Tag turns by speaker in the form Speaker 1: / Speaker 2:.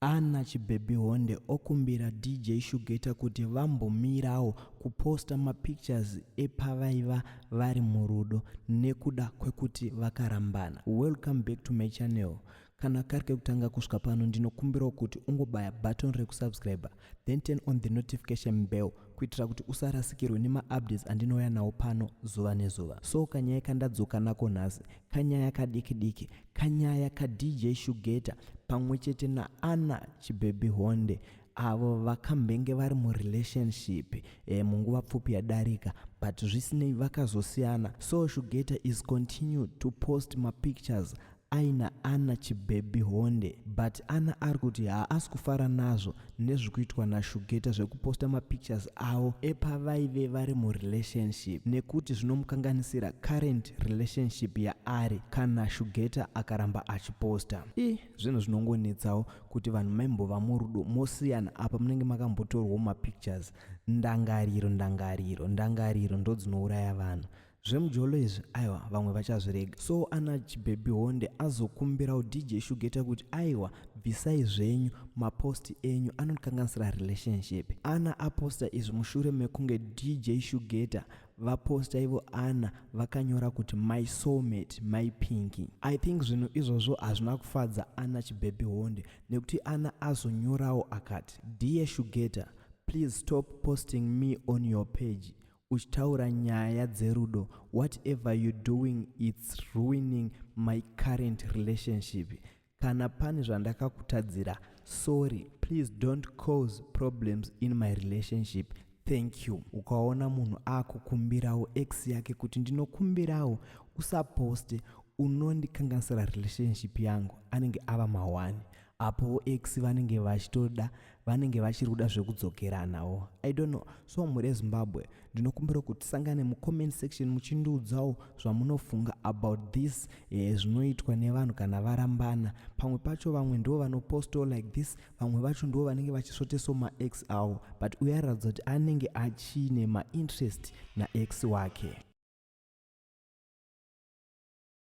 Speaker 1: Ana Chibhebhihonde okumbira DJ Shugeta kuti vambomirawo kuposta mapictures epavaiva vari murudo nekuda kwekuti vakarambana. Welcome back to my channel. Kana kari kekutanga kusvika pano ndinokumbirawo kuti ungobaya button rekusubscriber then turn on the notification bell kuitira kuti usarasikirwe nemaupdates andinouya nawo pano zuva nezuva. So kanyaya kandadzoka nako nhasi kanyaya kadiki diki Kanyaya kaDJ Shugeta pamwe chete naAnna Chibhebhi Honde avo vakambenge vari murelationship e, munguva pfupi yadarika but zvisinei vakazosiyana so Shugeta is continue to post mapictures aina Anna Chibhebhi Honde but Anna ari kuti haasi kufara nazvo nezvikuitwa nashugeta zvekuposta mapictures avo epavaive vari murelationship nekuti zvinomukanganisira current relationship yaari kana shugeta akaramba achiposta i zvinhu zvinongonetsawo kuti vanhu maimbova murudo mosiyana apa munenge makambotorwawo mapictures ndangariro ndangariro ndangariro ndodzinouraya vanhu zvemujolo izvi aiwa vamwe vachazvirega so ana chibhebhi honde azokumbirawo dj shugeta kuti aiwa bvisai zvenyu maposti enyu anokanganisira relationship ana aposta izvi mushure mekunge dj shugeta vaposta ivo ana vakanyora kuti my soulmate my pinki i think zvinhu izvozvo hazvina kufadza ana chibhebhi honde nekuti ana azonyorawo akati dear shugeta please stop posting me on your page Uchitaura nyaya dzerudo whatever you doing its ruining my current relationship kana pane zvandakakutadzira sorry please don't cause problems in my relationship thank you ukaona munhu akukumbirawo ex yake kuti ndinokumbirawo usaposte unondikanganisira relationship yangu anenge ava mahwani apo ex vanenge vachitoda vanenge vachiri kuda zvekudzokeranawo i don't know so mhuri yezimbabwe ndinokumbira kuti tisangane mucomment section muchindiudzawo zvamunofunga about this eh, zvinoitwa nevanhu kana varambana pamwe pacho vamwe ndivo vanoposto like this vamwe vacho ndivo vanenge vachisvoteso maex awo but uye aratidza kuti anenge achine mainterest naex wake